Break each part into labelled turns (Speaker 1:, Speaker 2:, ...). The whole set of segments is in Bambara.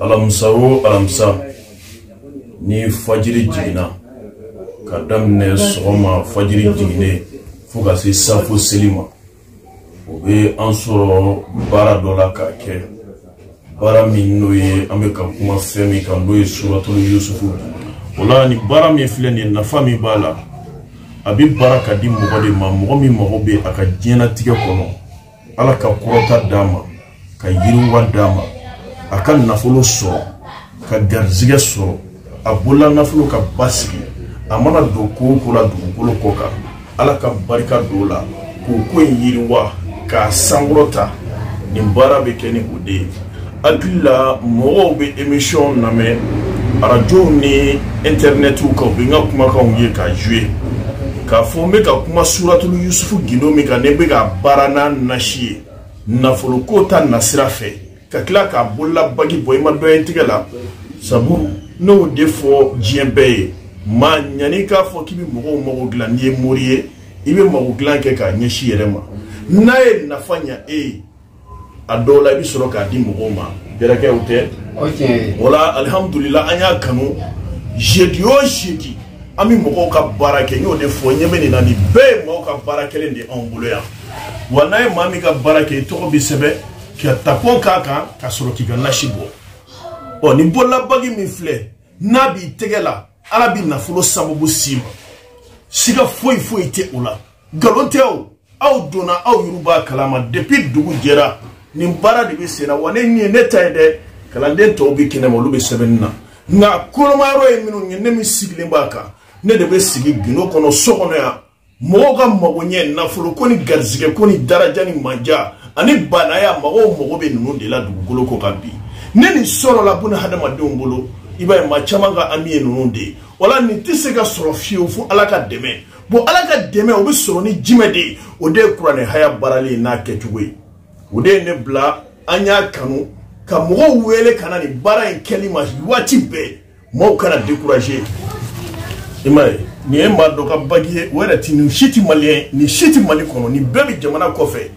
Speaker 1: alamisa o alamisa ni fajiri jiginna ka daminɛ sɔgɔma fajiri jiginnen fo ka se safo seli ma o bɛ an sɔrɔ baara dɔ la k'a kɛ baara min n'o ye an bɛ ka kuma fɛn min kan n'o ye suratulu yusufu o la ni baara min filɛ nin ye nafa min b'a la a bɛ baara ka di mɔgɔ de ma mɔgɔ min mago bɛ a ka diɲɛnatigɛ kɔnɔ ala ka kɔrɔta d'a ma ka yiriwa d'a ma a ka nafolo sɔrɔ ka garizigɛ sɔrɔ a bolola nafolo ka basigi a mana don ko o ko la dugukolo kɔ kan ala ka barika don o la k'o ko in yiriwa k'a sankɔrɔta nin baara bɛ kɛ ni o de ye Hakili la mɔgɔw bɛ émission lamɛn arajow ni internetiw kan u bɛ n ka kumakanw ye k'a jouer k'a fɔ n bɛ ka kuma suratul Yusufu gindo min kan ne bɛ k'a baara n'a nasi ye nafoloko ta nasira fɛ ka tila k'a bolola bagi bɔ i ma dɔ ye n tɛgɛ la sabu n y'o de fɔ diɲɛ bɛɛ ye maa yanni k'a fɔ k'i bɛ mɔgɔw mago dilan n'i ye mori ye i bɛ mago dilan kɛ k'a ɲɛsin i yɛrɛ ma n'a ye nafa ɲa e ye a dɔw la i bɛ sɔrɔ k'a di mɔgɔw ma bɛrɛkɛw tɛ o la alihamudulila an y'a kanu jeudi o jeudi an bɛ mɔgɔw ka baara kɛ n y'o de fɔ ɲɛ bɛ nin na nin bɛɛ ye mɔgɔw ka baara kɛlen de anw bolo yan wa n'a ye maa min ka baara kɛ i tɔgɔ bɛ sɛbɛn ka tampon k'a kan ka sɔrɔ k'i ka nasi bɔ ɔ nin bololabagi min filɛ n'a b'i tɛgɛ la ala bɛ nafolo sababu s'i ma siga foyi foyi tɛ o la nkalon tɛ o aw donna aw yɛrɛ b'a kalama depuis dugu jɛra nin baara de bɛ sen na wa ne nin ye ne ta ye dɛ kalanden tɔw bɛ kɛnɛ ma olu bɛ sɛbɛnni na nka kolomayɔrɔ ye minnu ye ne min sigilen b'a kan ne de bɛ sigi gindo kɔnɔ so kɔnɔ yan mɔgɔw ka mago ɲɛ nafolo ko ni garizigɛ ko ni daraja ni manja ani baanaya mɔgɔw mago bɛ ninnu de la dugukolo kɔ kan bi ni nin sɔrɔla buna hadamadenw bolo i b'a ye maa caman ka hami ye ninnu de ye wala nin tɛ se ka sɔrɔ fiyewu fo ala ka dɛmɛ bon ala ka dɛmɛ o bɛ sɔrɔ ni jumɛn de ye o de ye kuranɛ haya baarali ye n'a kɛcogo ye o de ye ne bila an y'a kanu ka mɔgɔw wele ka na nin baara in kɛli ma waati bɛɛ mɔgɔw kana décourager i m'a ye nin ye maa dɔ ka bagi ye o yɛrɛ ti nin si ti maliyɛn nin si ti mali kɔnɔ nin bɛɛ bɛ jamana kɔfɛ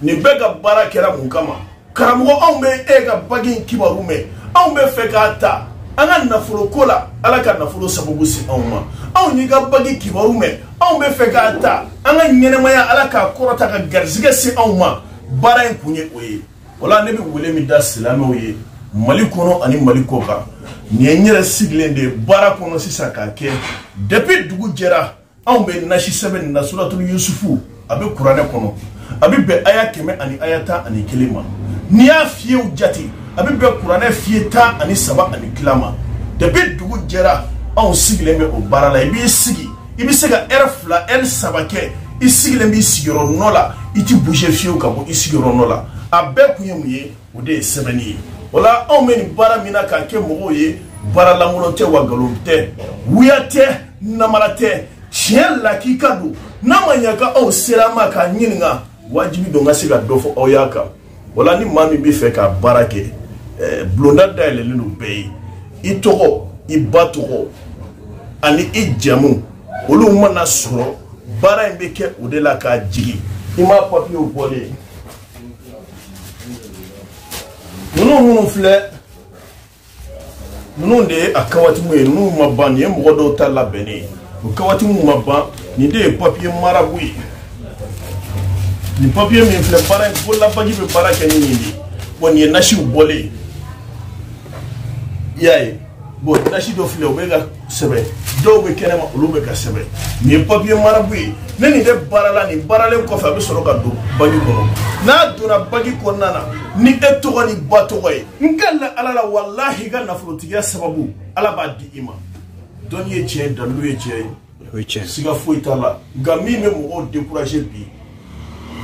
Speaker 1: nin bɛɛ ka baara kɛra mun kama karamɔgɔ anw bɛ e ka bagi in kibaru mɛn anw bɛ fɛ k'a ta an ka nafolo ko la ala ka nafolo sababu si anw ma anw y'i ka bagi kibaru mɛn anw bɛ fɛ k'a ta an ka ɲɛnamaya ala k'a kɔrɔta ka garizigɛ se anw ma baara in kun ye o ye wala ne bɛ wele min da silamɛw ye mali kɔnɔ ani mali kɔ kan nin ye n yɛrɛ sigilen de baara kɔnɔ sisan k'a kɛ depuis dugu jɛra anw bɛ nasi sɛbɛn nin na suratulu yusufu a bɛ kuranɛ kɔnɔ a bɛ bɛn aya kɛmɛ ani aya tan ani kelen ma n'i y'a fiyew jate a bɛ bɛn kuranɛ fiye tan ani saba ani tila ma depi dugu jɛra anw sigilen bɛ o baara la i b'i sigi i bɛ se ka ɛrɛ fila ɛri saba kɛ i sigilen b'i sigiyɔrɔ nɔ la i ti bouge fiyew ka bɔ i sigiyɔrɔ nɔ la a bɛɛ kun ye mun ye o de ye sɛbɛnni ye wala anw bɛ nin baara min na k'a kɛ mɔgɔw ye baara lankolon tɛ wa nkalon tɛ wuya tɛ namara tɛ tiɲɛ lakika don n'a ma ɲa ka aw sera ma k'a ɲininka wajibi don ka se ka dɔ fɔ aw y'a kan wala ni maa min bɛ fɛ ka baara kɛ eh, bulonda dayɛlɛlen don bɛɛ ye i tɔgɔ i ba tɔgɔ ani i jamu olu mana sɔrɔ baara in bɛ kɛ o de la k'a jigin i ma papiyew bɔlen ninnu minnu filɛ ninnu de ye a kawatimu ye n'u ma ban nin ye mɔgɔ dɔw ta labɛnnen ye o kawatimu ma ban nin de ye papiye marabu ye nin papiye min filɛ baara bololabagi bɛ baara kɛ ni nin de ye bɔn nin ye nasiw bɔlen ye i y'a ye bɔn nasi dɔ filɛ o bɛ ka sɛbɛn dɔw bɛ kɛnɛma olu bɛ ka sɛbɛn nin ye papiye marabu ye ne nin de baara la nin baaralen kɔfɛ a bɛ sɔrɔ ka don bagi kɔnɔ n'a donna bagi kɔnɔna na ni e tɔgɔ n'i ba tɔgɔ ye n ka la ala la walahi i ka nafolotigiya sababu ala b'a di i ma dɔnni ye tiɲɛ ye dalilu ye tiɲɛ ye o ye tiɲɛ siga foyi t'a la nka min bɛ mɔgɔw dekuraze bi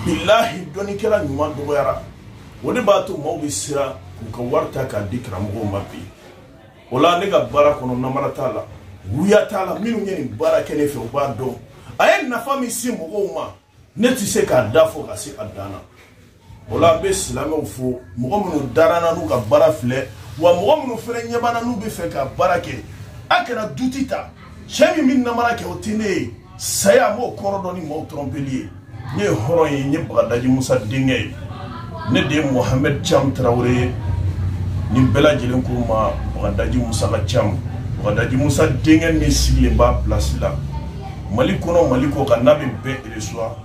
Speaker 1: bilahi dɔnnikɛla ɲuman dɔgɔyara o de b'a to maaw bɛ siran k'u ka wari ta k'a di karamɔgɔw ma bi o la ne ka baara kɔnɔ namara t'a la wuya t'a la minnu ye nin baara kɛ ne fɛ u b'a dɔn a ye nafa min se mɔgɔw ma ne tɛ se k'a da fɔ ka se a dan na o la n bɛ silamɛw fo mɔgɔ minnu dara n na n'u ka baara filɛ wa mɔgɔ minnu fana ɲɛ b'an na n'u bɛ fɛ ka baara kɛ a kana duti ta cɛ min bɛ namara kɛ o tɛ ne ye saya n b'o kɔrɔ dɔn ni maaw tɔrɔmpeli ye ne ye hɔrɔn ye n ye bagadaji musa denkɛ ye ne de ye mohamɛd cam tarawele ye ni bɛɛ lajɛlen ko ma bagadaji musa ka cam bagadaji musa denkɛ min sigilen b'a pilasi la mali kɔnɔ mali kɔ kan n'a bɛ bɛɛ eresuwa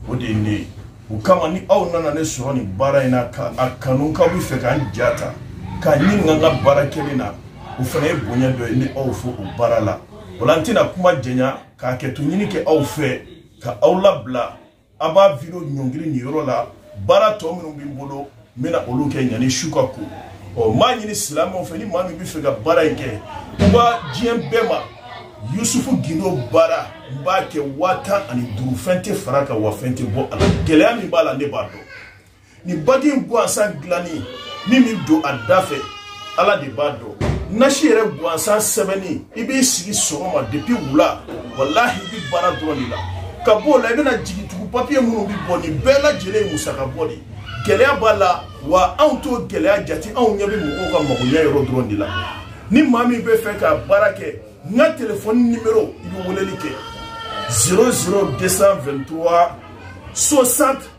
Speaker 1: o de ye ne ye o kama ni aw nana ne sɔrɔ nin baara in na ka a kanu k'aw bɛ fɛ k'an ja ta k'a ɲininka n ka baara kɛlen na o fana ye bonya dɔ ye n y'aw fo o baara la o la n tɛna kuma janya ka hakɛto ɲini kɛ aw fɛ ka aw labila an b'a video ɲɔngiri nin yɔrɔ la baara tɔ minnu bɛ n bolo n bɛna olu kɛ ɲani su ka ko ɔ n b'a ɲini silamɛw fɛ ni maa min bɛ fɛ ka baara in kɛ u b'a diɲɛ bɛɛ ma yusufu gindo baara n b'a kɛ waa tan ani duuru fɛn tɛ far'a kan wa fɛn tɛ bɔ a la gɛlɛya min b'a la ne b'a dɔn nin bagi in gansan dilanni min bɛ don a da fɛ ala de b'a dɔn nasi yɛrɛ gansan sɛbɛnni i b'i sigi sɔgɔma depuis wula walahi i bi baara dɔrɔn de la ka b'o la i bɛna jigin tugu papiye minnu bi bɔ nin bɛɛ lajɛlen ye musaka bɔ de gɛlɛya b'a la wa anw t'o gɛlɛya jate anw ɲɛ bɛ mɔgɔw ka magoɲɛ yɔrɔ dɔrɔn de la ni maa min bɛ fɛ ka baara kɛ n ka telefɔni nimero i bɛ weleli kɛ 00223 60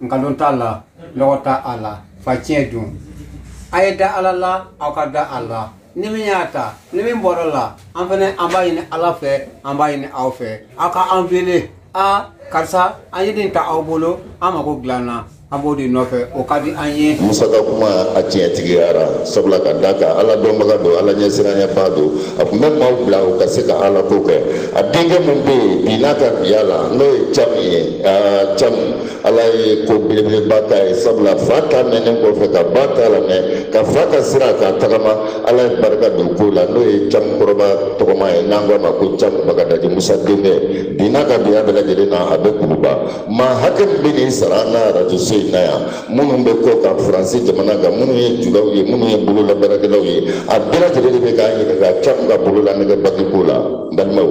Speaker 2: nkalon t'a la nɔgɔ t'a la fa tiɲɛ don a ye da ala la aw ka da a la ni min y'a ta ni min bɔra la an fɛnɛ an b'a ɲini ala fɛ an b'a ɲini aw fɛ aw ka an wele a karisa an ye nin ta aw bolo an mago dilanna an b'o de nɔfɛ o ka di an ye musa ka kuma
Speaker 3: a tiɲɛtigiyara sabula ka d'a kan ala dɔnbaga don ala ɲɛsiranyabaa don a tun bɛ maaw bila u ka se ka ala ko kɛ a denkɛ min bɛ yen bi n'a ka biya la n'o ye camu ye aa cam ala ye ko belebeleba k'a ye sabula fa ta mɛnnen kɔfɛ ka ba ta lamɛn ka fa ka sira k'a tagama ala ye barika don ko la n'o ye cam kɔrɔba tɔgɔma ye n'an k'a ma ko cam bagadaji musa denkɛ bi n'a ka biya bɛɛ lajɛlen na a bɛ kuluba maa hakɛ min bɛ nin sara an ka arajo so in na yan minnu bɛ kɔ kan faransi jamana kan minnu ye julaw ye minnu ye bololabaarakɛlaw ye a bɛɛ lajɛlen de bɛ k'an ɲininka cam ka bololanɛgɛ bagi ko la n balimaw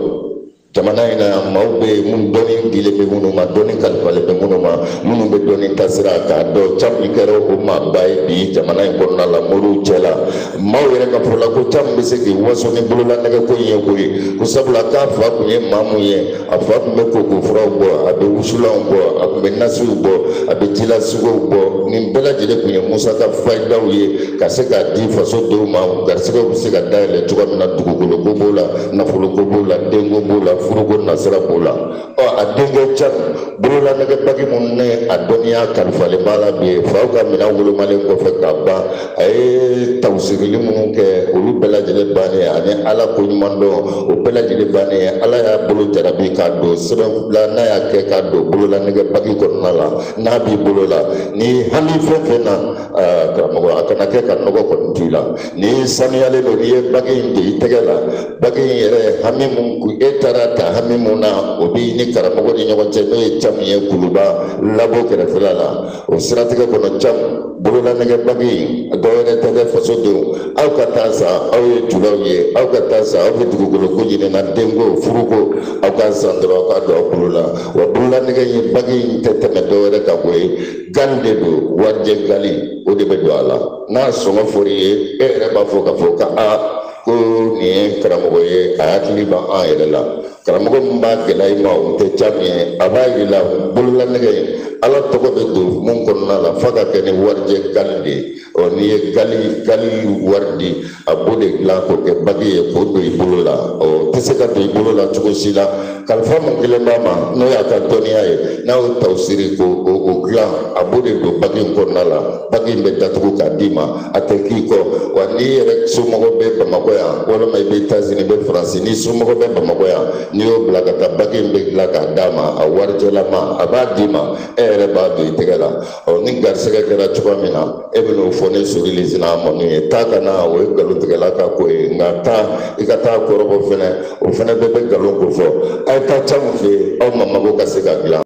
Speaker 3: jamana in na yan maaw bɛ yen minnu dɔnni dilen bɛ minnu ma dɔnni kalifalen bɛ minnu ma minnu bɛ dɔnni taasira k'a dɔn cam in kɛra o maaba ye bi jamana in kɔnɔna la moriw cɛ la maaw yɛrɛ ka fɔla ko cam bɛ se k'i waso ni bololanɛgɛko in ye ko ye ko sabula k'a fa tun ye maa mun ye a fa tun bɛ koko furaw bɔ a bɛ wusulanw bɔ a tun bɛ nasiw bɔ a bɛ jilasugow bɔ nin bɛɛ lajɛlen tun ye musa ka fayidaw ye ka se k'a di faso denw ma garisɛgɛw bɛ se ka dayɛlɛ cogoya min na dugukolo ko b'o la nafoloko b'o la denko b'o la furuko nasira b'o la ɔ a denkɛ cam bololanɛgɛ bagi min ni a dɔnniya kalifalen b'a la bi faw ka minɛn wolomalen kɔfɛ ka ban a ye tawusirili minnu kɛ olu bɛɛ lajɛlen bannen ani ala ko ɲuman dɔn o bɛɛ lajɛlen bannen ala y'a bolo jarabi k'a don sɛbɛn na n'a y'a kɛ k'a don bololanɛgɛ bagi kɔnɔna la n'a b'i bolo la ni hali fɛn fɛn na karamɔgɔ a kana kɛ ka nɔgɔ kɔni t'i la n'i saniyalen don n'i ye bagi in don i tɛgɛ la bagi in yɛrɛ hami mun kun e taara ta hami mun na o b'i ni karamɔgɔ ni ɲɔgɔn cɛ n'o ye camu ye kuluba labo kɛrɛfɛla la o siratigɛ kɔnɔ camu bololanɛgɛ bagi in dɔwɛrɛ tɛ dɛ fasoden aw ka taa san aw ye julaw ye aw ka taa san aw bɛ dugukolo ko ɲinina denko furuko aw k'a san dɔrɔn aw k'a don aw bolo la wa bololanɛgɛ in bagi in tɛ tɛmɛ dɔwɛrɛ ka bɔ ye gali de don warijɛ gali o de bɛ don a la n'a sɔngɔ fɔr'i ye e yɛrɛ b'a fɔ k'a fɔ ka a ko nin ye karamɔgɔ ye a hakili b'a yɛrɛ la karamɔgɔ min b'a gɛlɛya i ma o tɛ cɛ min ye a b'a yir'i la bololanɛgɛ in ala tɔgɔ bɛ don mun kɔnɔna la f'a ka kɛ ni warijɛ gali de ye ɔ n'i ye gali gali wari di a b'o de dilan k'o kɛ bagi ye k'o don i bolo la o tɛ se ka don i bolo la cogo si la kalifa mun kelen b'a ma n'o y'a ka dɔnniya ye n'a y'o tawsiri k'o o dilan a b'o de don bagi in kɔnɔna la bagi in bɛ datugu k'a d'i ma a tɛ k'i kɔ wa n'i yɛrɛ somɔgɔ bɛ bamakɔ yan walima i bɛ etazini i bɛ faransi n'i somɔgɔ bɛ bamakɔ yan n'i y'o bila ka taa bagi in bɛ dilan k'a d'a ma a warijɛlama a b'a d'i ma e yɛrɛ b'a don i tɛgɛ la ɔ ni garisɛgɛ kɛra cogoya min na e bɛ n'o fɔ ne sori le sina a mɔni ye taa ka na o ye nkalontigɛla ka ko ye nka taa i ka taa kɔrɔbɔ fɛnɛ o fɛnɛ bɛɛ bɛ nkalon ko fɔ a ye taa cɛ mun fɛ yen aw ma mago ka se ka dilan